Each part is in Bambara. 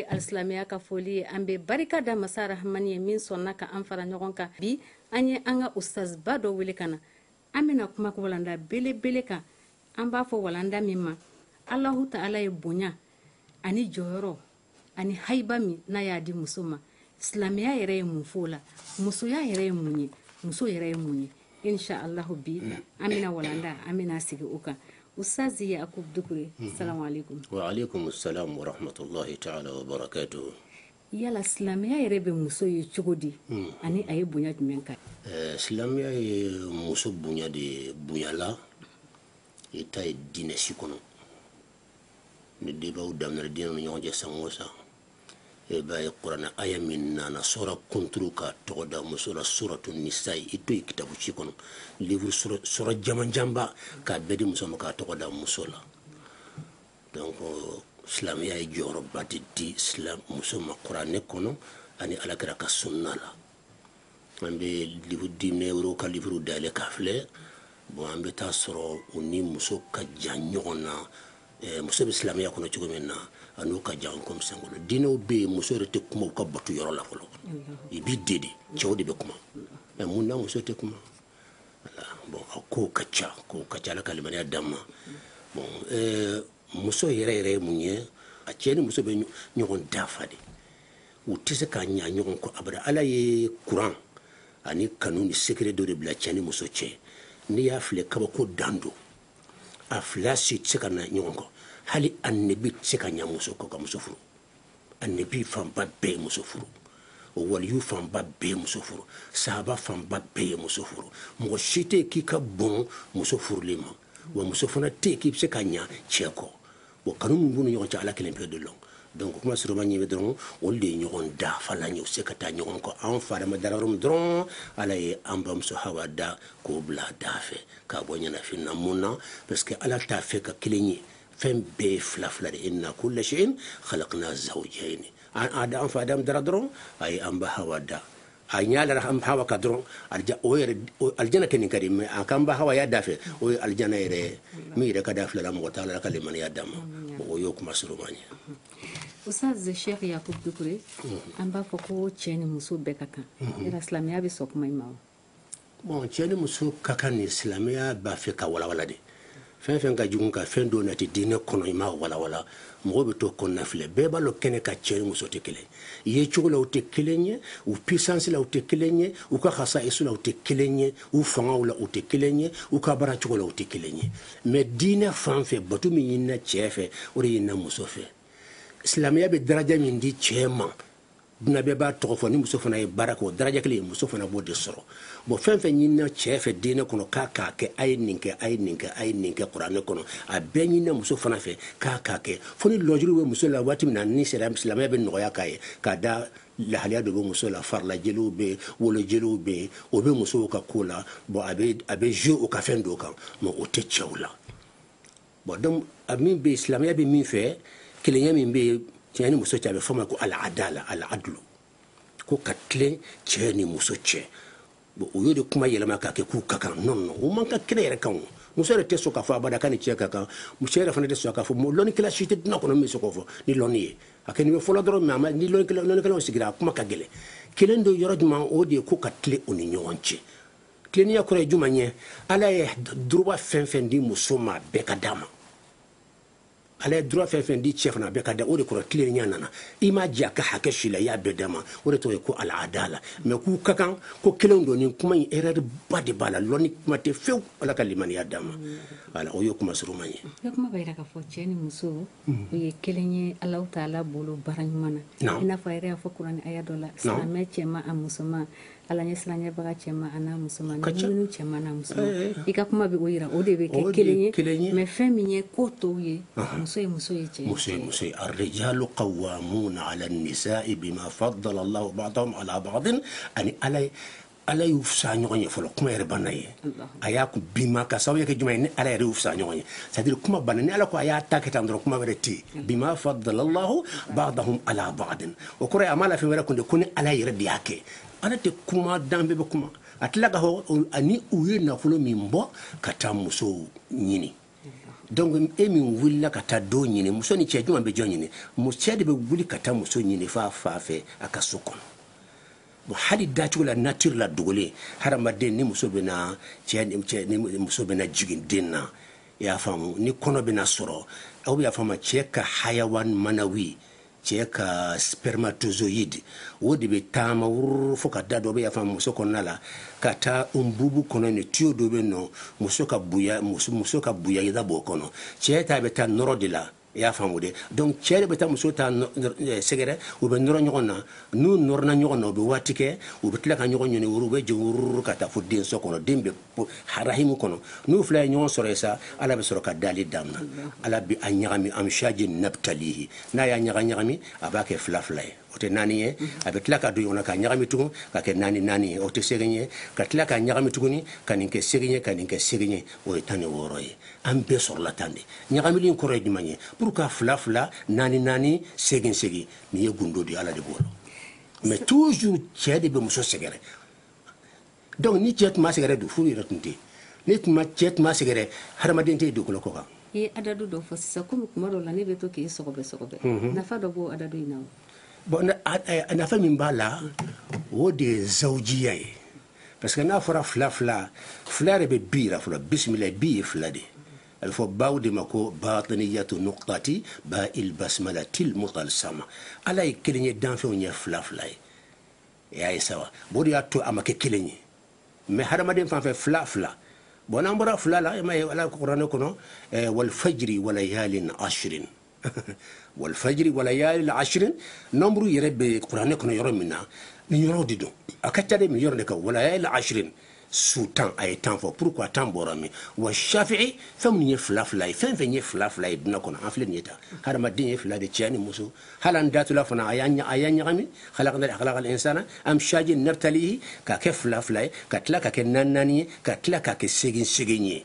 alisilamɛya ka foli ye an bɛ barika da masa rahamani ye min sɔnna ka an fara ɲɔgɔn kan bi an ye an ka ustaziba dɔ wele ka na an bɛna kuma walanda belebele kan an b'a fɔ walanda min ma alahu taala ye bonya ani jɔyɔrɔ ani hayiba min n'a y'a di muso ma silamɛya yɛrɛ ye mun f'o la musoya yɛrɛ ye mun ye muso yɛrɛ ye mun ye insha Allah bi an bɛna walanda an bɛna sigi o kan Ustaz Yakubu Dukure mhm. salamu aleykum wa aleykum salam wa rahmatulahi taala wa barakatuhu yala silamɛya yɛrɛ bɛ muso ye cogo di mhm. ani a ye bonya jumɛn kan eh, silamɛya ye muso bonya de bonya la i t'a ye diinɛ si kɔnɔ ni debaw daminɛna diinɛ ni ɲɔgɔn cɛ san o san e b'a ye kuranɛ aya min nana sura kunturu k'a tɔgɔ da muso la suratu nisa i t'o ye kitabu si kɔnɔ livre sura jamanjanba k'a bɛɛ di muso ma k'a tɔgɔ da muso la donc silamɛya ye jɔyɔrɔba de di silam muso ma kuranɛ kɔnɔ ani ala kira ka sunna la an bɛ livre diinɛ wɛrɛw ka livre dayɛlɛ k'a filɛ bon an bɛ taa sɔrɔ u ni muso ka jan ɲɔgɔn na muso bɛ silamɛya kɔnɔ cogo min na an'u ka jan comme an k'o lɔn diinɛw bɛ yen muso yɛrɛ tɛ kuma u ka bato yɔrɔ la fɔlɔ i b'i de de cɛw de bɛ kuma mais mun na muso tɛ kuma bon ko ka ca ko ka ca ala ka limaniya d'an ma bon muso yɛrɛ yɛrɛ ye mun ye a cɛ ni muso bɛ ɲɔgɔn dafa de u tɛ se ka ɲa ɲɔgɔn kɔ abada ala ye kuran ani kanu ni secret dɔ de bila cɛ ni muso cɛ n'i y'a filɛ kabako dan don a fila si tɛ se ka ɲa ɲɔgɔn kɔ hali annabi tɛ se ka ɲa muso kɔ ka muso furu annabi fanba bɛɛ ye muso furu o waliyu fanba bɛɛ ye muso furu sahaba fanba bɛɛ ye muso furu mɔgɔ si tɛ k'i ka bon muso furuli ma wa muso fana tɛ k'i bɛ se ka ɲa cɛ kɔ bon kanu min b'u ni ɲɔgɔn cɛ ala kelen pe de lɔn donc kuma surunman ɲɛ bɛ dɔrɔn olu de ye ɲɔgɔn dafalan ye u se ka taa ɲɔgɔn kɔ an fa adama dara yɔrɔ min dɔrɔn ala ye an bamuso hawa da k'o bil'a dafɛ k'a bɔ ɲɛnafin na mun na parce que ala t'a fɛ k'a kelen ye fɛn bɛɛ ye fila fila de inna kulla shay'in khalaqna zawjayn an adam fa adam dara dɔrɔn a ye an ba hawa da a ɲa lara hawa kan dɔrɔn o yɛrɛ alijana kɔni ka di mais a k'an ba hawa y'a dafɛ o ye alijana yɛrɛ ye min yɛrɛ ka d'a fila la mɔgɔ t'a lɔn ala ka limaniya d'an ma o y'o kuma surunman ye Ustaz Sheikh Yakubu Dukure an b'a fɔ ko cɛ ni muso bɛɛ ka kan yala silamɛya bɛ sɔn kuma in ma wa Bon cɛ ni muso ka kan nin silamɛya b'a fɛ ka walawala de fɛn fɛn ka jugu ka fɛn dɔw nati diinɛ kɔnɔ i m'a walawala mɔgɔ bɛ to kɔnɔnafili bɛɛ b'a dɔn kɛnɛ kan cɛ ni muso tɛ kelen ye cogo la u tɛ kelen ye u puissance la u tɛ kelen ye u ka khasaisu la u tɛ kelen ye u fangaw la u tɛ kelen ye u ka baara cogo la u tɛ kelen ye mais diinɛ fan fɛ bato min ɲinina cɛ fɛ o de ɲinina muso fɛ silamɛya bɛ daraja min di cɛ ma duɲa bɛɛ b'a tɔgɔ fɔ ni muso fana ye baara kɛ o daraja kelen ye muso fana b'o de sɔrɔ bon fɛn fɛn ɲinina cɛ fɛ diinɛ kɔnɔ k'a k'a kɛ a ye nin kɛ a ye nin kɛ a ye nin kɛ kuranɛ kɔnɔ a bɛɛ ɲinina muso fana fɛ k'a k'a kɛ fo ni lujuru bɛ muso la waati min na ni silamɛya bɛ nɔgɔya k'a ye k'a da lahaliya dɔ bɛ muso la farilajeliw bɛ wolojeliw bɛ o bɛ musow ka ko la bon a bɛ jouer o ka fɛn dɔw kan mais o tɛ cɛw la Bon donc a min bɛ yen silamɛya bɛ min fɛ kelenya min bɛ yen cɛ ni muso cɛ a bɛ fɔ ma ko al-adala al-adlu ko ka tilen cɛ ni muso cɛ bon o y'o de kuma yɛlɛma k'a kɛ k'u ka kan non non o man kan kɛnɛ yɛrɛ kan o muso yɛrɛ tɛ sɔn k'a fɔ abada k'a ni cɛ ka kan muso yɛrɛ fana tɛ sɔn k'a fɔ lɔnnikɛla si tɛ duɲa kɔnɔ min bɛ se k'o fɔ ni lɔnni ye a kɛ nin bɛ fɔlɔ dɔrɔn mais ni lɔnnikɛlaw sigira a kuma ka gɛlɛn kelen don yɔrɔ jumɛn o de ye ko ka tilen o ni ɲɔgɔn cɛ tilenniya kɔrɔ ye juma ye ala ye droit fɛn fɛn di muso ma bɛɛ ka d'a ma ala ye droit fɛn fɛn di cɛ fana bɛɛ ka da o de kɔrɔ tilenniya nana i m'a jɛ a ka hakɛ si la i y'a bɛɛ d'a ma o de tɔgɔ ye ko al-adala mais k'u ka kan ko kelen don nin kuma in erreur ba de b'a la lɔnni kuma tɛ fewu ala ka limaniya d'a ma voilà o ye kuma surunman ye o ye kelen ye ala ta ala bolo bara ɲuman na i n'a fɔ yɛrɛ y'a fɔ kuran a dɔ la silamɛmɛ cɛ a musoman ala ɲɛ siranɲɛbaga cɛ a musoman ka cɛ cɛ musoman i ka kuma bɛ o jira o de bɛ kɛ kelen ye kelen ye mɛ fɛn min ye ko tɔw ye muso ye muso ye cɛ muso muso araro ka wa minnu na ala sa i fa dɔ la ala ani ala ye ala y'u fisa ɲɔgɔn ye fɔlɔ kuma yɛrɛ banna yen a y'a kun bima ka sababu kɛ jumɛn ye ni ala yɛrɛ y'u fisa ɲɔgɔn ye c'est à dire kuma banna ni ala ko a y'a ta kɛ tan dɔrɔn kuma wɛrɛ tɛ yen bima faddala allahu ba'dahum ala ba'din o kɔrɔ ye a ma la fɛn wɛrɛ kun de ko ni ala yɛrɛ de y'a kɛ ala tɛ kuma dan bɛɛ bɛ kuma a tila k'a fɔ ani u ye nafolo min bɔ ka taa musow ɲini donc e min wulila ka taa dɔ ɲini muso ni cɛ jumɛn bɛ jɔn ɲini cɛ de bɛ wuli ka taa muso ɲini f'a fa fɛ a ka so kɔnɔ bon hali dacogo la nature la dogolen hadamaden ni muso bɛna cɛ cɛ ni muso bɛna jigin den na i y'a faamu ni kɔnɔ bɛna sɔrɔ aw y'a faamu cɛ ka hayawan manawi cɛ ka spermatozoïde o de bɛ taama wururu fo ka da dɔ bɛ y'a faamu muso kɔnɔna la ka taa unbubu kɔnɔ ni tuyau dɔ bɛ nɔ muso ka buya muso ka buwayda b'o kɔnɔ cɛ ta bɛ taa nɔrɔ o de la i y'a faamu de donc cɛ de bɛ taa muso ta eh, sɛgɛrɛ u bɛ nɔrɔ ɲɔgɔn na n'u nɔrɔna ɲɔgɔn na u bɛ waati kɛ u bɛ tila ka ɲɔgɔn ɲɔni wuru u bɛ jigin wururu ka taa fo denso kɔnɔ den bɛ harahimu kɔnɔ n'u fila ye ɲɔgɔn sɔrɔ yen sa ala bɛ sɔrɔ ka dali damina ala bɛ a ɲagami amshaji nabtalihi n'a y'a ɲaga ɲagami a b'a kɛ fila fila ye o tɛ naani ye a bɛ tila ka don ɲɔgɔn na ka ɲagami tugun ka kɛ naani naani ye o tɛ segin ye ka tila ka ɲagami tuguni ka nin kɛ segin ye ka nin kɛ segin ye o ye tan ni wɔɔrɔ ye an bɛɛ sɔrɔla tan de ɲagamili in kɔrɔ ye jumɛn ye pourquoi fila fila naani naani segin segin nin ye gundo de ala de b'o lɔn mais toujours cɛ de bɛ muso sɛgɛrɛ donc ni cɛ tun ma sɛgɛrɛ dun furu yɛrɛ tun tɛ ni tun ma cɛ tun ma sɛgɛrɛ hadamaden tɛ dugukolo kɔ kan i ye adadu dɔ fɔ sisan komi kuma dɔ la ne bɛ to k'i sɔgɔbɛ sɔgɔbɛ mhm. nafa dɔ b'o adadu in na wa bon a nafa min b'a la o de ye zawujiya ye parce que n'a fɔra fila fila fila yɛrɛ bɛ bi yira fɔlɔ bisimila bi ye fila de a bɛ fɔ ba de ma ko batiniyatu nuqtati ba il basmalatil mutal sama ala ye kelen ye danfɛnw ye fila fila ye e y'a ye sa wa o de y'a to a ma kɛ kelen ye mais hadamaden fan fɛ fila fila bon n'an bɔra fila la e m'a ye ala kuranɛ kɔnɔ eh, walifajiri walayalin ashirin walifajiri walayalin ashirin nombre yɛrɛ bɛ kuranɛ kɔnɔ yɔrɔ min na nin yɔrɔ de don a ka ca de min yɔrɔ de kan walayalin ashirin su tan a ye tan fɔ pourquoi tan bɔra min wa shafi'i fɛn min ye fila fila ye fɛn fɛn ye fila fila ye dunan kɔnɔ an filɛ nin ye tan hadamaden ye fila de cɛ ni muso hali an datula fana a y'a ɲagami halakadali halakal insana amshaji nabtalihi ka kɛ fila fila ye ka tila ka kɛ naani naani ye ka tila ka kɛ segin segin ye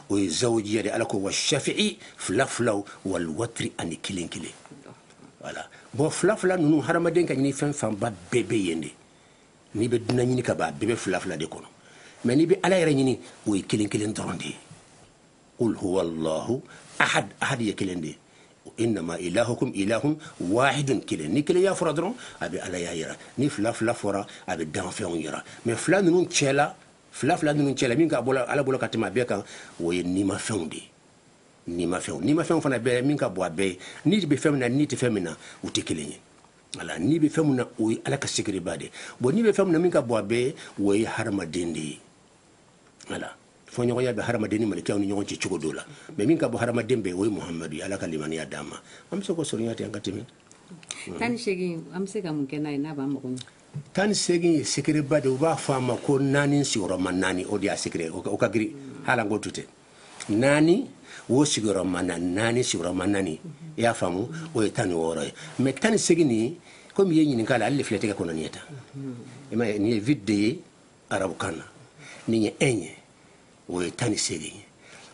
o ye zawujiya de ala ko wa shafi'i fila filaw wali watiri ani kelen kelen voilà bon fila fila ninnu hadamaden ka ɲinifɛn fanba bɛɛ bɛ yen de n'i bɛ dunan ɲini ka ban bɛɛ bɛ fila fila de kɔnɔ mais n'i bɛ ala yɛrɛ ɲini o ye kelen kelen dɔrɔn de ye qul huwa allahu ahad ahad ye kelen de ye innama ilahukum ilahun wahidun kelen ni kelenya fɔra dɔrɔn a bɛ alaya yira ni fila fila fɔra a bɛ danfɛnw yira mais fila ninnu cɛla fila fila ninnu cɛla min ka bon ala bolo ka tɛmɛ a bɛɛ kan o ye nimafɛnw de ye nimafɛnw nimafɛnw fana bɛɛ min ka bon a bɛɛ ye ni bɛ fɛn min na ni tɛ fɛn min na u tɛ kelen ye voilà ni bɛ fɛn min na o ye ala ka sekereba de bon ni bɛ fɛn min na min ka bon a bɛɛ ye o ye hadamaden de ye voilà fɔɲɔgɔnya bɛ hadamaden ni mɛlɛkɛw ni ɲɔgɔn cɛ cogo dɔ la mais min ka bon hadamaden bɛɛ o ye muhamadu ye ala ka limaniya d'a ma an bɛ se k'o surunya ten an ka tɛmɛ tan ni segin an bɛ se ka mun kɛ n'a ye n'a b'an mago tan ni segin ye sekereba de u b'a fɔ a ma ko naani sigiyɔrɔma naani o de y'a sekere o ka giri hali an k'o to ten naani o sigiyɔrɔma na naani sigiyɔrɔma naani i y'a faamu o ye tan ni wɔɔrɔ ye mais tan ni segin nin ye komi i ye ɲininka ale ale filɛ tɛgɛ kɔnɔ nin ye tan i ma nin ye vide ye arabukan na nin ye un ye o ye tan ni seegin ye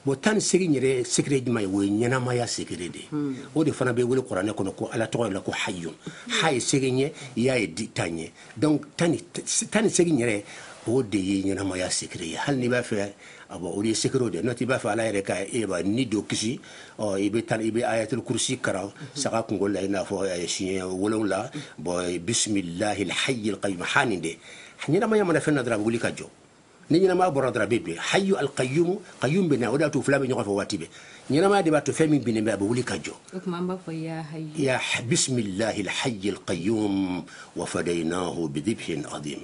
bon tan ni seegin yɛrɛ sekere jumɛn ye o ye ɲɛnamaya sekere de ye hmm. o de fana bɛ wele kuranɛ kɔnɔ ko ala tɔgɔ la ko hayyun ha ye seegin ye ya ye di tan ye donc tan ni seegin yɛrɛ o de ye ɲɛnamaya sekere ye hali n'i b'a fɛ abo o ye sekerew de n'o tɛ i b'a fɛ ala yɛrɛ ka e ba ni dɔ kisi ɔ i bɛ taa i bɛ ayatul kursi karan saga kunkolo la i n'a fɔ siɲɛ wolonwula bon bisimilahi alhayyil qayyum ha nin de ɲɛnamaya mana fɛn na dɔrɔn a bɛ wuli ka jɔ ni ɲɛnamaya bɔra dɔrɔn a bɛ bin hayu alqayumu qayum bɛ na o de y'a to u fila bɛ ɲɔgɔn fɛ waati bɛɛ ɲɛnamaya de b'a to fɛn min binnen bɛ a bɛ wuli ka jɔ o tuma an b'a fɔ ya hayu ya bisimilahi alhayi alqayum wa fadayinahu bidibhin adim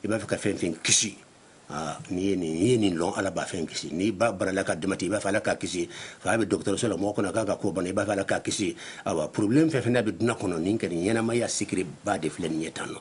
i b'a fɛ ka fɛn fɛn kisi Ah, n'i ye nin ye nin lɔn ala b'a fɛn kisi n'i ba banana ka damatɛmɛ i b'a fɛ ala k'a kisi fa bɛ dɔgɔtɔrɔso la mɔgɔw kɔnɔ k'a ka ko banna i b'a fɛ ala k'a kisi awa problème fɛn fɛn n'a bɛ duna kɔnɔ nin kɛ nin ɲɛnamaya sikiri ba de filɛ nin ye tan nɔ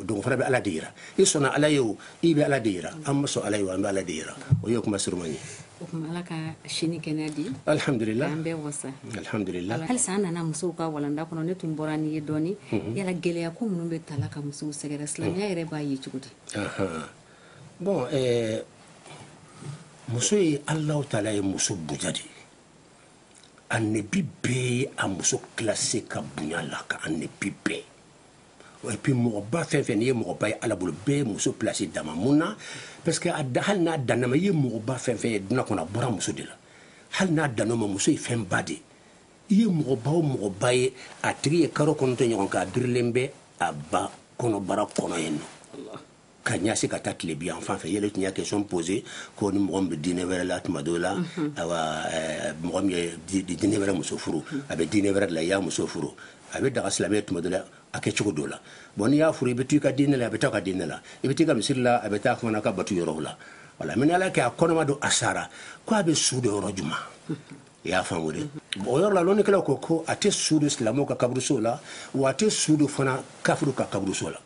don fana bɛ ala de jira i sɔnna ala ye o i bɛ ala de jira an ma sɔn ala ye o an bɛ ala de jira o ye kuma surunman ye o tuma ala ka si ni kɛnɛya di alhamdulillah an bɛ wasa alhamdulillah halisa an nana musow ka walanda kɔnɔ ne tun bɔra ni ye dɔɔnin yala gɛlɛya ko minnu bɛ taa ka musow sɛgɛrɛ silamɛya yɛrɛ b'a ye cogo di bon muso ye allahu taala ye muso bonya de annabi bɛɛ ye a muso classé ka bonya ala ka annabi bɛɛ et puis mɔgɔba fɛn fɛn n'i ye mɔgɔba ye ala bolo bɛɛ ye muso place d'a ma mun na parce que a da hali n'a danna o ma i ye mɔgɔba fɛn fɛn ye duna kɔnɔ a bɔra muso de la hali n'a danna o ma muso ye fɛn ba de i ye mɔgɔba o mɔgɔba ye a tigi ye karo kɔnɔntɔn ɲɔgɔn k'a birilen bɛ a ba kɔnɔbara kɔnɔ yen nɔ ka ɲasi ka taa tilebi yan fan fɛ yɛlɛ tun y'a question posé ko ni mɔgɔ min bɛ diinɛ wɛrɛ la tuma dɔw la awa mɔgɔ min ye diinɛ wɛrɛ muso furu a bɛ diinɛ wɛrɛ de la i y'a muso furu a bɛ daga silamɛya tuma dɔw la a kɛ cogo dɔw la bon n'i y'a furu i bɛ to i ka diinɛ la a bɛ to a ka diinɛ la i bɛ taa i ka misiri la a bɛ taa a fana ka batu yɔrɔ la voilà mais ala k'a kɛ a kɔnɔma don a sara ko a bɛ su don yɔrɔ jumɛn i y'a faamu de o yɔrɔ la lɔnnikɛlaw ko ko a tɛ su don silamɛw ka kaburuso la wa a tɛ su don fana kafiriw ka kaburuso la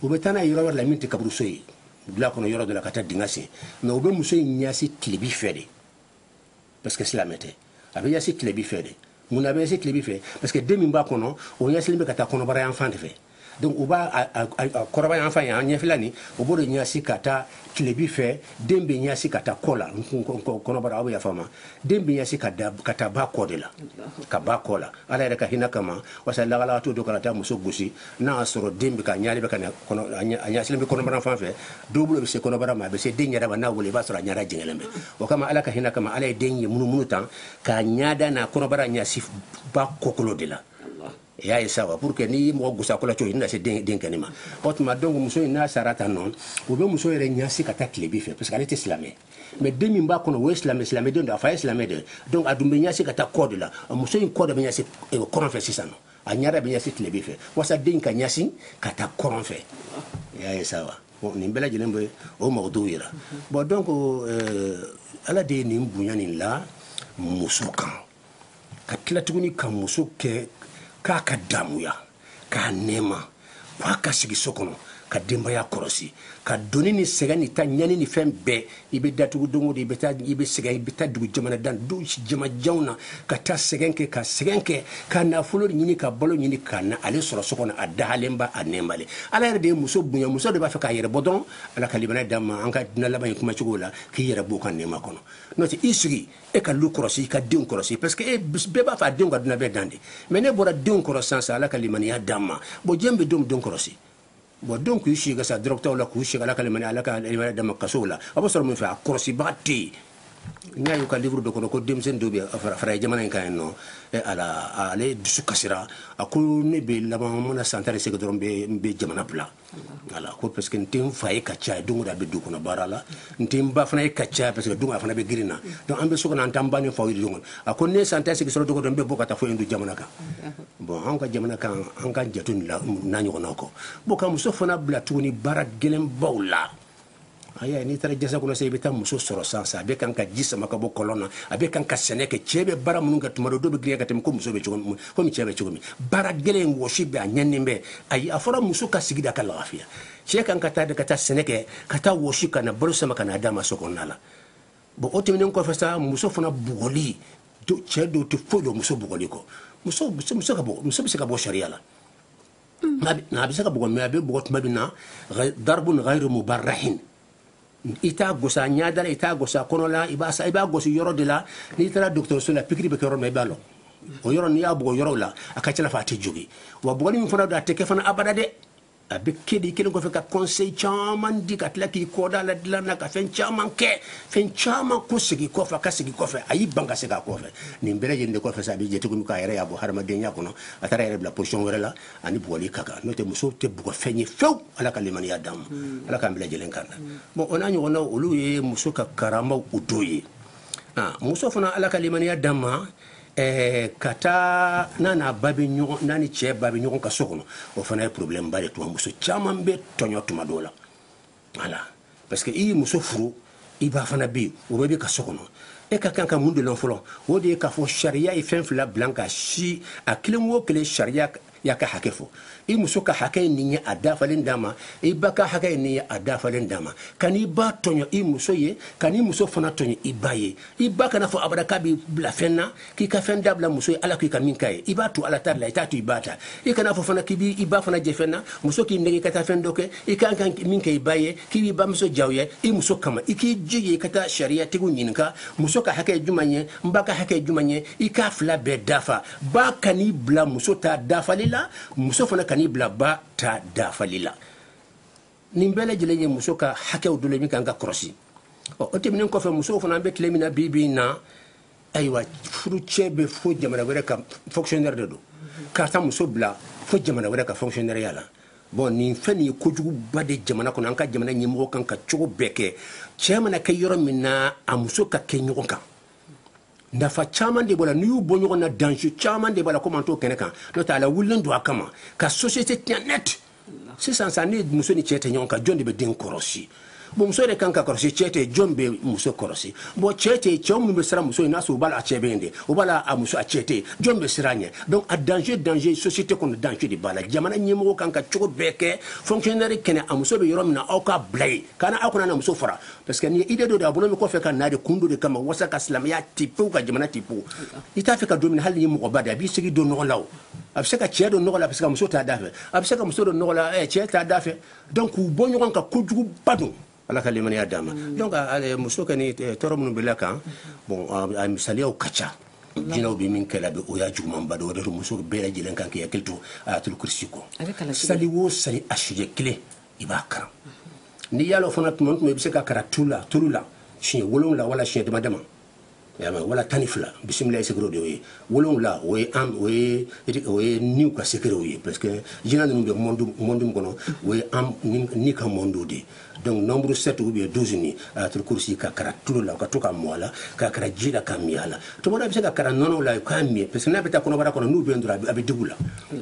u bɛ taa n'a yɔrɔ wɛrɛ la min tɛ kaburuso ye wula kɔnɔ yɔrɔ dɔ la ka taa dingɛ sen mais u bɛ muso in ɲasi tilebi fɛ de parce que silamɛ tɛ a bɛ ɲasi tilebi fɛ de mun na a bɛ ɲasi tilebi fɛ parce que den min b'a kɔnɔ o ɲasilen bɛ ka taa kɔnɔbara yan fan de fɛ donc u b'a kɔnɔbara yan fan ye an ɲɛfɛla nin u b'o de ɲasi ka taa tilebi fɛ den bɛ ɲasi ka taa kɔ la kɔnɔbara aw bɛ yafa n ma den bɛ ɲasi ka ka taa ba kɔ de la ka ba kɔ la ala yɛrɛ ka hinɛ kama parce que lagala to dɔ ka na taa muso gosi n'a y'a sɔrɔ den bɛ ka ɲali bɛ ka a ɲasilen bɛ kɔnɔbara fan fɛ dɔ bolo bɛ se kɔnɔbara ma a bɛ se den yɛrɛ ma n'a wolola i b'a sɔrɔ a ɲada jɛngɛlen bɛ o kama ala ka hinɛ kama ala ye den ye munumunu tan k'a ɲada n'a kɔnɔbara ɲasi ba kɔkolo de la i y'a ye sa wa pour que n'i ye mɔgɔ gusa kola cogo i bɛna se den den kɛnɛ ma o tuma donc muso in n'a sara tan nɔ o bɛ muso yɛrɛ ɲasi ka taa tilebi fɛ parce que ale tɛ silamɛ mais den min b'a kɔnɔ o ye silamɛ silamɛ den don a fa ye silamɛ de donc a dun bɛ ɲasi ka taa kɔ de la muso in kɔ de bɛ ɲasi eh, kɔrɔn fɛ sisan nɔ a ɲada bɛ ɲasi tilebi fɛ walasa den in ka ɲasi ka taa kɔrɔn fɛ i y'a ye sa wa bon nin bɛɛ lajɛlen bɛ o mago dɔw yira bon donc euh, ala de ye nin bonya nin la muso kan ka tila tuguni ka muso kɛ k'a ka damuya k'a nɛɛma k'a ka sigi so kɔnɔ ka denbaya kɔrɔsi ka doni ni sɛgɛn ni ta ɲani ni fɛn bɛɛ i bɛ datugu don o don i bɛ taa i bɛ sɛgɛn i bɛ taa dugu jamanadan du jamana janw na ka taa sɛgɛn kɛ ka sɛgɛn kɛ ka nafolo ɲini ka balo ɲini ka na ale sɔrɔ so kɔnɔ a dahalenba a nɛɛmalen ala yɛrɛ de ye muso bonya muso de b'a fɛ k'a yɛrɛ bɔ dɔrɔn ala ka limaniya d'an ma an ka diɲɛ laban in kumacogo la k'i yɛrɛ b'o ka nɛɛma kɔnɔ n'o tɛ i sigi e ka lu kɔrɔsi i ka denw kɔrɔsi parce que e bɛɛ b'a fɛ a denw ka dunan bɛɛ dan de mais n'e bɔra denw kɔrɔ sisan sa ala ka limaniya d'an ma bon jɔn bɛ denw denw kɔrɔsi bon denw k'u si kɛ sa dɔrɔgutaw la k'u si ala ka limaniya ala ka limaniya d'an ma kasow la a bɛ sɔrɔ mun fɛ a kɔrɔsibaga tɛ yen n y'a y'u ka livre dɔ kɔnɔ ko denmisɛnnin dɔ bɛ farajɛ jamana in kan yen nɔ ala ale dusu kasira a ko ne bɛ laban mana san tan ni seegin sɔrɔ n bɛ jamana bila voilà ko parce que n tɛ n fa ye ka caya don o don a bɛ du kɔnɔ baara la n tɛ n ba fana ye ka caya parce que don a fana bɛ girin na donc an bɛ so kɔnɔ an t'an ba ni faw ye don a ko ne san tan ni seegin sɔrɔ don o don n bɛ bɔ ka taa fo indu jamana kan bon an ka jamana kan an k'an janto o la n'a ɲɔgɔnnaw kɔ bon ka muso fana bila tuguni baara gɛlɛnbaw la aya n'i taara jasa kɔnɔ sa i bɛ taa muso sɔrɔ san sa a bɛ kan ka ji sama ka bɔ kɔlɔn na a bɛ kan ka sɛnɛ kɛ cɛɛ bɛ baara minnu kɛ tuma dɔ dɔ bɛ girinya ka tɛmɛ ko muso bɛ cogo min komi cɛɛ bɛ cogo min baara gɛlɛn wɔsi bɛ a ɲaninen bɛ ayi a fɔra muso ka sigi de ka lafiya cɛɛ kan ka taa de ka taa sɛnɛ kɛ ka taa wɔsi ka na balo sama ka na a d'a ma so kɔnɔna la bon o tɛmɛnen kɔfɛ sa muso fana bugɔli cɛɛ dɔw tɛ foyi dɔn muso bugɔli kɔ muso muso muso ka bɔ muso bɛ se ka bɔ sariya la a bɛ se ka bugɔ mais a bɛ bugɔ tuma min na darbun ghairu mubarrahin i t'a gosa ɲɛda la i t'a gosa kɔnɔ la i b'a i b'a gosi yɔrɔ de la n'i taara dɔgɔtɔrɔso la pikiri bɛ kɛ yɔrɔ min i b'a dɔn o yɔrɔ n'i y'a bugɔ yɔrɔw la a ka ca la a tɛ jogin wa bugɔli min fana don a tɛ kɛ fana abada dɛ a bɛ kɛ deli kɛlen kɔfɛ ka conseil caman di ka tila k'i kɔ d'a la dilan na ka fɛn caman kɛ fɛn caman ko sigi kɔfɛ ka sigi kɔfɛ a y'i ban ka segin a kɔfɛ nin bɛɛ lajɛlen de kɔfɛ sa a bɛ jate komi k'a yɛrɛ y'a bɔ hadamadenya kɔnɔ a taara a yɛrɛ bila position wɛrɛ la ani bugɔli ka kan n'o tɛ muso tɛ bugɔfɛn ye fewu ala ka limaniya d'an ma hmm. ala k'an bɛɛ lajɛlen kana hmm. bon o n'a ɲɔgɔnnaw olu ye muso ka karamaw dɔw ye ah, muso fana ala ka limaniya d'an ma Eh, ka taa n'a n'a ba bɛ ɲɔgɔn n'a ni cɛ ba bɛ ɲɔgɔn kan so kɔnɔ o fana ye problème ba de tuma muso caman bɛ tɔɲɔ tuma dɔw la voilà parce que i ye muso furu i ba fana bɛ yen o bɛɛ bɛ ka so kɔnɔ e ka kan ka mun de lɔn fɔlɔ o de ye k'a fɔ sariya ye fɛn fila bila ka si a kelen o kelen sariya y'a ka hakɛ fɔ i muso ka hakɛ ye nin ye a dafalen d'a ma i ba ka hakɛ ye nin ye a dafalen d'a ma kan'i ba tɔɲɔ i muso ye kan'i muso fana tɔɲɔ i ba ye i ba kana fɔ abada k'a b'i bila fɛn na k'i ka fɛn dabila muso ye ala k'i ka min k'a ye i b'a to ala ta la i t'a to i ba ta i kana fɔ fana k'i b'i i ba fana jɛ fɛn na muso k'i nɛgɛn ka taa fɛn dɔ kɛ i kan ka min kɛ i ba ye k'i b'i bamuso jaw ye i muso kama i k'i jija i ka taa sariyatigiw ɲininka muso ka hakɛ juman ye n ba ka hakɛ juman ye i k'a fila bɛɛ dafa ba kan'i bila muso ta dafali la muso fana kan'i bila ba ta dafali la nin bɛɛ lajɛlen ye muso ka hakɛw dɔ de min kan ka kɔrɔsi ɔ o tɛmɛnen kɔfɛ musow fana an bɛ tile min na bi bi in na ayiwa furucɛ bɛ fo jamana wɛrɛ ka fonctionnaire de don ka taa muso bila fo jamana wɛrɛ ka fonctionnaire ya la bon nin fɛn nin ye kojuguba de jamana kɔnɔ an ka jamana ɲɛmɔgɔ kan ka cogo bɛɛ kɛ cɛ mana kɛ yɔrɔ min na a muso ka kɛ ɲɔgɔn kan nafa caman de b'a la n'i y'u bɔ ɲɔgɔn na danger caman de b'a la komi an t'o kɛnɛ kan n'o tɛ a lawulilen don a kama ka société tiɲɛ net sisan sa ni muso ni cɛ tɛ ɲɔgɔn kan jɔn de bɛ den kɔrɔsi bon muso de kan ka kɔrɔsi cɛ tɛ jɔn bɛ muso kɔrɔsi bon cɛ tɛ cɛw minnu bɛ siran muso ye n'a sɔrɔ u b'a la a cɛ bɛ yen de u b'a la a muso a cɛ tɛ jɔn bɛ siran ɲɛ donc a danger danger société kɔnɔ danger de b'a la jamana ɲɛmɔgɔ kan ka cogo bɛɛ kɛ fonctionnaire kɛnɛ a muso bɛ yɔrɔ min na aw k'a bila yen kana aw kan'a n'a muso fara parce que ni idée dɔ de a bɔlen bɛ kɔfɛ ka na de kun dɔ de kama wasa ka silamɛya ti pewu ka jamana ti pewu i t'a fɛ ka don min hali ni mɔgɔba de a bɛ se k'i don nɔgɔ la o a bɛ se ka cɛ don nɔgɔ la parce que muso t'a da fɛ a bɛ se ka muso don nɔgɔ la cɛ t'a da fɛ donc k'u bɔ ɲɔgɔn kan kojuguba don ala ka limaniya d'an ma mm. donc muso ka ni tɔɔrɔ minnu bɛ la kan bon a misaliyaw ka ca jinɛw bɛ min kɛla bɛ o y'a jugumanba dɔ o de don muso bɛɛ lajɛlen kan k'i hakili to ayatul kursi kɔ sali o sali a siɲɛ kelen i b'a karan n'i y'a lɔn fana tuma tuma i bɛ se k'a karan tu la tulu la siɲɛ wolonwula wala siɲɛ dama dama yama wala tan ni fila bisimilayi sekere de y'o ye wolonwula o ye an o ye o ye niw ka sekerew ye parce que jinɛ ninnu bɛ monde min kɔnɔ o ye an ni ka monde de donc nombre sept ou bien douze ni ayatul kurusi k'a karan tulu la ka to ka mɔ a la k'a karan ji la ka mi a la tuma dɔ a bɛ se k'a karan nɔnɔ la k'a mi parce que n'a bɛ taa kɔnɔbara kɔnɔ n'u bɛ dɔrɔn a bɛ digi u la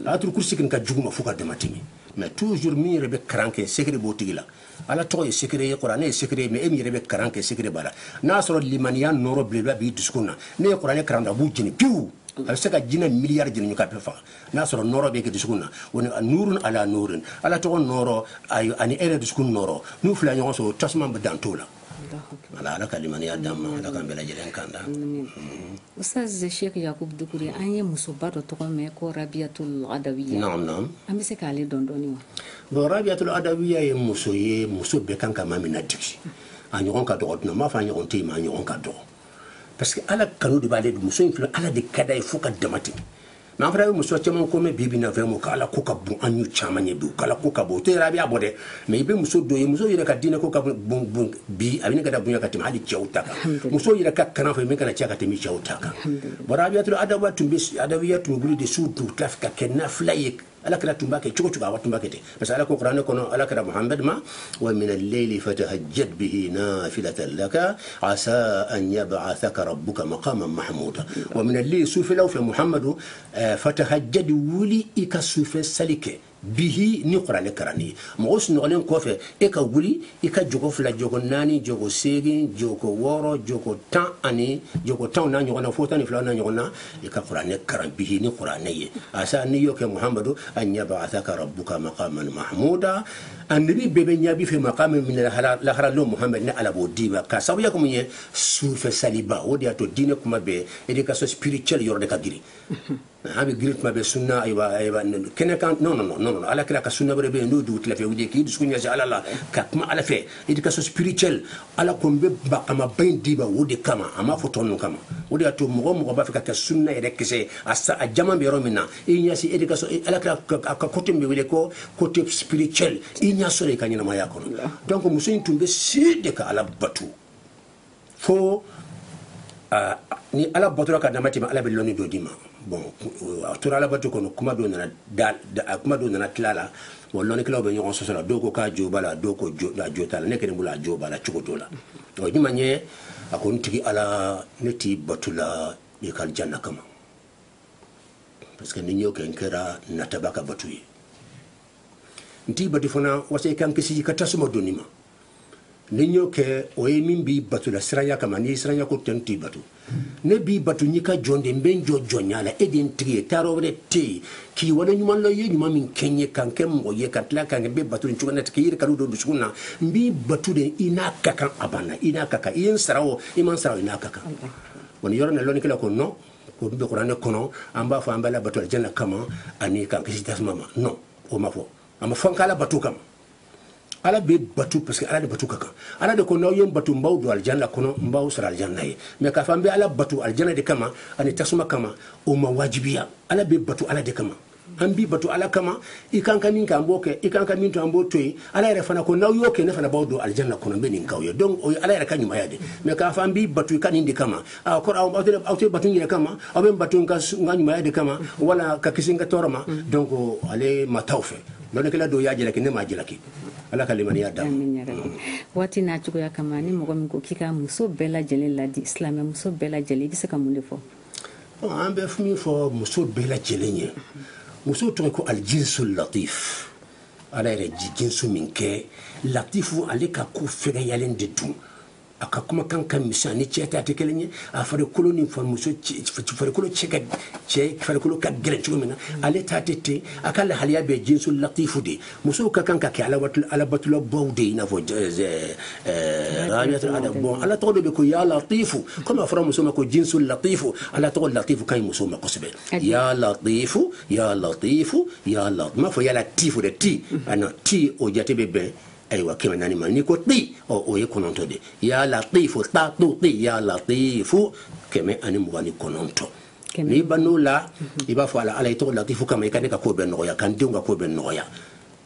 ayatul kurusi kɔni ka jugu ma fo ka dama tɛmɛ mais toujours min yɛrɛ bɛ karan kɛ sekere b'o tigi la ala tɔgɔ ye sekere ye kuranɛ ye sekere ye mais e min yɛrɛ bɛ karan kɛ sekere b'a la n'a sɔrɔ limaniya nɔrɔ belebeleba b'i dusukun na n'e ye kuranɛ karan a b'u jeni pewu a bɛ se ka jinɛ miliyari jeni ka bɛɛ faga n'a sɔrɔ nɔrɔ bɛ kɛ dusukun na o ni nurun ala nurin ala tɔgɔ nɔrɔ ani e yɛrɛ dusukun nɔrɔ n'u fila ɲɔgɔn sɔrɔ tasuma bɛ dan t'o la ala ka limaniya d'an ma ala k'an lajɛlen kanda ustaz sheikh yakubu dukure an ye musoba dɔ tɔgɔ mɛn ko rabiatul adawiya an bɛ se k'ale dɔn dɔɔnin wa bon rabiatul adawiya ye muso ye muso bɛɛ kan ka maa min ladegi a ɲɔgɔn ka dɔgɔ dun an m'a fɔ a ɲɔgɔn tɛ yen mais a ɲɔgɔn ka dɔgɔ parce que ala kanu de b'ale muso in filɛ ala de ka d'a ye fo ka dama tɛmɛ mais an fana bɛ muso caman ko mɛn bi bi na vraiment k'ala ko ka bon an y'u caman ye bi k'ala ko ka bon o tɛ yɛrɛ a b'a bɔ dɛ mais i bɛ muso dɔ ye muso yɛrɛ ka diinɛ ko ka bon bon bi a bɛ ne ka da bonya ka tɛmɛ hali cɛw ta kan muso yɛrɛ ka kalan fɛ min kana cɛ ka tɛmɛ cɛw ta kan bon rabiatul adama tun bɛ adawiya tun bɛ wuli de su dugu tila fɛ ka kɛ nafila ye ala kira tun b'a kɛ cogo cogo a tun b'a kɛ ten parce que ala ko kuranɛ kɔnɔ ala kira muhamad ma wa min leyili fatahajjat bihi nafilatan laka asa an yab'athaka rabbuka maqaman mahmuda wa min leyili sufɛlaw fɛ muhamadu eh, fatahajjat wuli i ka sufɛ sali kɛ bihi ni kuranɛ karanni ye mɔgɔ sunɔgɔlen kɔfɛ e ka wuli i ka jogo fila jogo naani jogo seegin jogo wɔɔrɔ jogo tan ani jogo tanw n'a ɲɔgɔn na fo tan ni filaw n'a ɲɔgɔn na i ka kuranɛ karan bihi ni kuranɛ ye asa n'i y'o kɛ muhamadu an yab'athaka rabbuka maqaman mahmuda annabi bɛɛ bɛ ɲɛb'i fɛ maqami min lahara lon muhamad ni ala b'o d'i ma k'a sabuya kɛ mun ye sufɛ saliba o de y'a to diinɛ kuma bɛɛ éducation spirituelle yɔrɔ de ka girin an bɛ girin tuma bɛɛ sunna a yira a yira kɛnɛ kan non non non non ala kira ka sunna wɛrɛ bɛ yen n'o dugu tilafɛ wuli k'i dusu ɲɛsin ala la ka kuma ala fɛ éducation spirituelle ala ko n bɛ maqamaba in d'i ma o de kama a m'a fɔ tɔ ninnu kama o de y'a to mɔgɔ mɔgɔ b'a fɛ ka kɛ sunna yɛrɛ kisɛ ye a sa a jama bɛ yɔrɔ min na i ɲɛsin éducation ala kira a ka côté min bɛ wele ko côté spirituel i ɲ'a sɔrɔ i ka ɲɛnamaya kɔnɔ donc muso in tun bɛ si de ka ala bato fo ni ala batora ka dama tɛmɛ ala bɛ lɔni dɔ d'i ma bon a tora ala bato kɔnɔ kuma dɔ nana a kuma dɔ nana tila la bon lɔnnikɛlaw bɛ ɲɔgɔn sɔsɔ la dɔw ko k'a jo b'a la dɔw ko a jo t'a la ne kelen bolo a jo b'a la cogo dɔ la o ye mun ye a ko n tigi ala ne t'i bato la i ka janna kama parce que ni n y'o kɛ n kɛra nataba ka bato ye n t'i bato fana walasa i ka n kisi i ka tasuma donni ma ni n y'o kɛ o ye min b'i bato la siranya kama ni siranya ko tɛ n t'i bato ne b'i bato n y'i ka jɔn de n bɛ n jɔ jɔnya la e de n tigi ye taayɔrɔ wɛrɛ tɛ yen k'i wale ɲuman lɔn i ye ɲuman min kɛ n ye ka n kɛ mɔgɔ ye ka tila ka n kɛ n b'i bato nin cogo na k'i yɛrɛ kanu don n dusu na n b'i bato de i n'a ka kan a banna i n'a ka kan i ye n sara o i ma n sara o i n'a ka kan wa nin yɔrɔ na lɔnnikɛlaw ko non o bɛ kuranɛ kɔnɔ an b'a fɔ an b'ala bato janna kama ani k'an kisi tasuma ma o ma fɔ a ma fɔ' bato kama ala bɛ batu parce que ala de batu ka kan ala de ko n'aw ye n batu n b'aw don alijanna kɔnɔ n b'aw sara alijanna ye mais k'a fɔ an bɛ ala batu alijanna de kama ani tasuma kama o ma wajibiya ala bɛ batu ala de kama an b'i batu ala kama i k'an ka min kɛ an b'o kɛ i k'an ka min to an b'o to yen ala yɛrɛ fana ko n'aw y'o kɛ ne fana b'aw don alijanna kɔnɔ n bɛ nin k'aw ye donc o ye ala yɛrɛ ka ɲumaya de mais k'a fɔ an b'i batu i ka nin de kama a kɔrɔ aw tɛ aw tɛ batu n yɛrɛ kama aw bɛ n batu n ka ɲumaya de kama wala ka kisi n ka tɔɔrɔ ma donc ale ma taa o fɛ Lɔnnikɛla dɔw y'a jalaki ne m'a jalaki Ala ka limaniya d'an ma. Waati n'a cogoya kama ni mɔgɔ min ko k'i ka muso bɛɛ lajɛlen ladi silamɛ muso bɛɛ lajɛlen i bɛ se ka mun de fɔ? An bɛ min fɔ muso bɛɛ lajɛlen ye muso tɔgɔ ko aljinsul latif Ala yɛrɛ ye jinsu min kɛ latifu ale ka ko fɛgɛyalen de don a ka kumakan ka misɛn ni cɛ ta tɛ kelen ye a farikolo ni fari muso farikolo cɛ ka cɛ farikolo ka gɛlɛn cogo min na ale ta tɛ ten a ka lahaliya bɛɛ jinsu latifu de musow ka kan ka kɛ alabatulabaw de i n'a fɔ rabiatul adawiya bon ala tɔgɔ de bɛ ko ya latifu komi a fɔra muso ma ko jinsu latifu ala tɔgɔ latifu ka ɲi muso ma kosɛbɛ ya latifu ya latifu ya latifu n m'a fɔ ya latifu dɛ ti a na ti o jate bɛ bɛn ayiwa kɛmɛ naani ma n'i ko ti ɔ o ye kɔnɔntɔ de ya latifu ta tu ti ya latifu kɛmɛ ani mugan ni kɔnɔntɔ n'i ban'o la i b'a fɔ ala ala i tɔgɔ latifu kama i ka ne ka ko bɛɛ nɔgɔya ka n denw ka ko bɛɛ nɔgɔya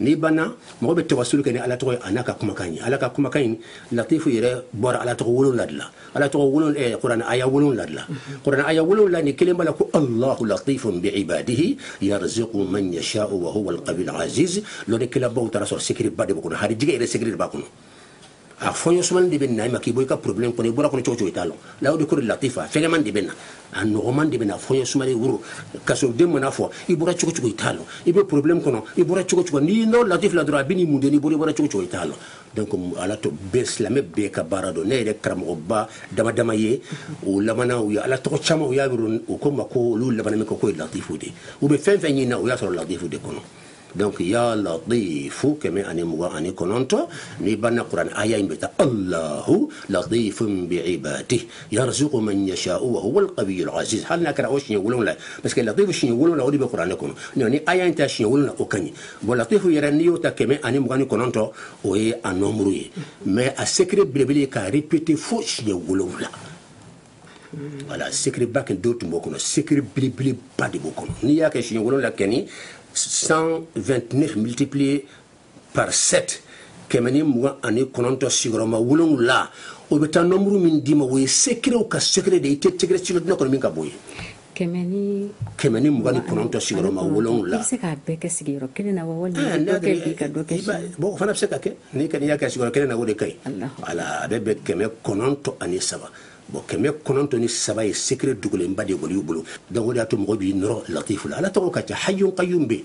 n'i banna mɔgɔ bɛ tawasulu kɛ ni ala tɔgɔ ye a n'a ka kumakan ye ala ka kumakan in latifu yɛrɛ bɔra ala tɔgɔ wolonwula de la ala tɔgɔ wolon eh, kuran aya wolonwula la kuran aya wolonwula nin kelen b'a la ko allahu latifun bi ibadihi yarzuqu man yasha'u wa huwa alqawiyyul aziz lɔnnikɛlabaw taara a sɔrɔ secretba de b'o kɔnɔ harijigɛ yɛrɛ secret de b'a kɔnɔ a fɔɲɔ sumani de bɛ na i ma k'i bɔ i ka problème kɔnɔ i bɔra kɔnɔ cogo cogo i t'a lɔn la o de ko de latifa fɛgɛman de bɛ na a nɔgɔman de bɛ na fɔɲɔ sumani woro ka sɔrɔ den mana fɔ i bɔra cogo cogo i t'a lɔn i bɛ problème kɔnɔ i bɔra cogo cogo n'i nɔ latif la dɔrɔn a bɛ n'i mun de n'i bɔra i bɔra cogo cogo i t'a lɔn donc ala tɔgɔ bɛɛ silamɛ bɛɛ ka baara don ne yɛrɛ karamɔgɔba dama dama ye o lamana u ye ala tɔgɔ caman u y'a yɔrɔ o ko ma ko olu laban min ko ko ye latifu de u bɛ fɛn fɛn ɲini na u y'a sɔrɔ latifu de kɔnɔ donc ya latifu kɛmɛ ani mugan ani kɔnɔntɔn n'i banna kuran aya in bɛ ta allahu latifun bi ibadihi yarzuqu man yasha'u wa huwa alqawiyyul aziz hali n'a kɛra o siɲɛ wolonwula parce que latifu siɲɛ wolonwula o de bɛ kuranɛ kɔnɔ ni aya in ta siɲɛ wolonwula o ka ɲi bon latifu yɛrɛ n'i y'o ta kɛmɛ ani mugan ni kɔnɔntɔn o ye a nombre ye mais a secret belebele ye k'a répéter fo siɲɛ wolonwula voilà secretba kɛ do tun b'o kɔnɔ secret belebeleba de b'o kɔnɔ n'i y'a kɛ siɲɛ wolonwula kɛni 129 multiplié par 7 kɛmɛ ni mugan ani kɔnɔntɔn sigiyɔrɔma wolonwula o bɛ taa nombre min d'i ma o ye secretw ka secret de ye i tɛ secret si lɔn diɲɛ kɔnɔ min ka bon ye kɛmɛ ni kɛmɛ ni mugan ni kɔnɔntɔn sigiyɔrɔma wolonwula. I bɛ se k'a bɛɛ kɛ sigiyɔrɔ kelen na wa walima ah, dɔ kɛ bi ka dɔ kɛ sini. Bon o fana bɛ se ka kɛ n'i kɔni y'a kɛ sigiyɔrɔ kelen na o de ka ɲi. O la a bɛ bɛn kɛmɛ kɔnɔntɔn ani saba. bon kɛmɛ kɔnɔntɔn ni saba ye secret dogolenba de kɔni y'u bolo donc o de y'a to mɔgɔ b'i nɔrɔ latifu la ala tɔgɔ ka ca hayyun qayyum bɛ yen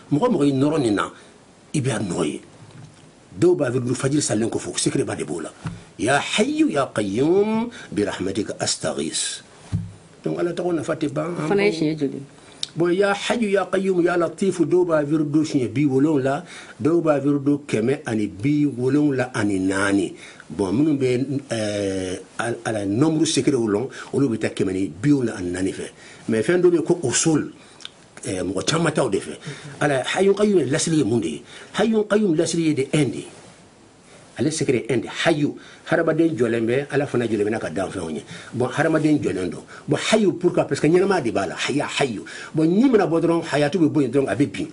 mɔgɔ mɔgɔ i nɔrɔ nin na i bɛ a nɔ ye dɔw b'a wiridu fajiri salen kɔfɛ secretba de b'o la ya hayu ya qayyum bi rahmatika astaghis donc ala tɔgɔ nafa tɛ ban fana ye siɲɛ joli bon ya hayu ya qayyum ya latifu dɔw b'a wiridu siɲɛ bi wolonwula dɔw b'a wiridu kɛmɛ ani bi wolonwula ani naani bon minnu bɛ eh, ala nombre secretw lɔn olu bɛ taa kɛmɛ ni bi wolonwula ani naani fɛ mais fɛn dɔ bɛ yen ko usul eh, mɔgɔ caman taa o de fɛ ala hayun qayyum lasili ye mun de ye hayun qayyum lasili ye de un de ye ale secret un de hayu hadamaden jɔlen bɛ ala fana jɔlen bɛ n'a ka danfɛnw ye bon hadamaden jɔlen don bon hayu pourquoi parce que ɲɛnama de b'a la haya hayu bon ni mana bɔ dɔrɔn hayatu bɛ bɔ yen dɔrɔn a bɛ bin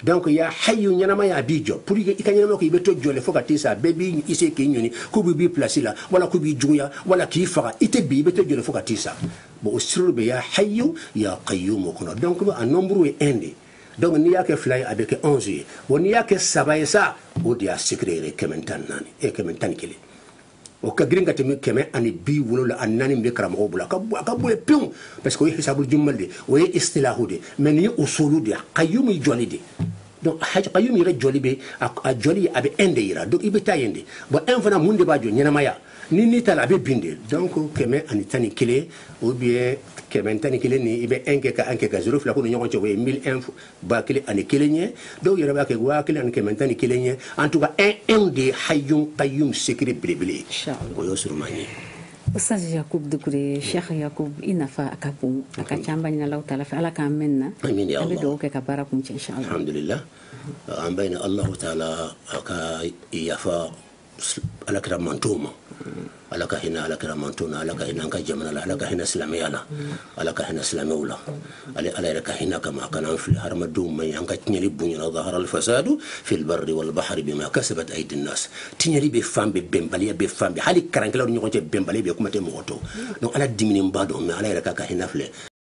donc ya hayu ɲɛnamaya a b'i jɔ pour que i ka ɲɛnama ko i bɛ to jɔlen fo ka t'i sa bɛɛ b'i i se k'i ɲɔni k'u b'i b'i place la wala k'u b'i juguya wala k'i faga i tɛ bin i bɛ to jɔlen fo ka t'i sa Bon o sirru bɛ ya hayyu ya qayyum kɔnɔ donc a nombre ye un de ye donc n'i y'a kɛ fila ye a bɛ kɛ onze ye bon n'i y'a kɛ saba ye sa o de y'a secret yɛrɛ kɛmɛ tan naani e kɛmɛ tan ni kelen o ka girin ka tɛmɛ kɛmɛ ani bi wolonwula ani naani bɛ karamɔgɔ bolo a ka a ka bon pewu parce que o ye hisabul jummal de o ye istilahu de mais nin ye usul de qayyum jɔli de donc hayyu qayyum yɛrɛ jɔli bɛ a jɔli a bɛ un de yira donc i bɛ taa yen de bon un fana mun de b'a jɔ ɲɛnamaya ni ni taala a bɛ bin de donc kɛmɛ ani tan ni kelen ou bien kɛmɛ tan ni kelen ni i bɛ un kɛ ka un kɛ ka zero fila k'u ni ɲɔgɔn cɛ o ye mille un ba kelen ani kelen ye dɔw yɛrɛ b'a kɛ waa kelen ani kɛmɛ tan ni kelen ye en tout cas un un de ye hayyun qayyum secret belebele ye o y'o surunman ye Ustaz Yakub Dukure Sheikh Yakub i nafa a ka bon a ka ca an b'a ɲini Allahu taala fɛ ala k'a mɛɛn an na an bɛ duwa kɛ ka baara kuncɛ inshallah alhamdulillah an b'a ɲini Allahu taala a ka yafa ala kira manton ma ala ka hinɛ ala kira manton na ala ka hinɛ an ka jamana la ala ka hinɛ silamɛya la ala ka hinɛ silamɛw la ale ala yɛrɛ ka hinɛ kama a kana an filɛ hadamadenw ma ye an ka tiɲɛli bonyana zahara al fasadu fil barri wal bahri bima kasabat aydi nas tiɲɛli bɛ fan bɛɛ bɛnbaliya bɛ fan bɛɛ hali karankɛlaw ɲɔgɔn cɛ bɛnbaliya bɛ kuma tɛ mɔgɔ tɔ donc ala diminenba don mais ala yɛrɛ ka ka hinɛ filɛ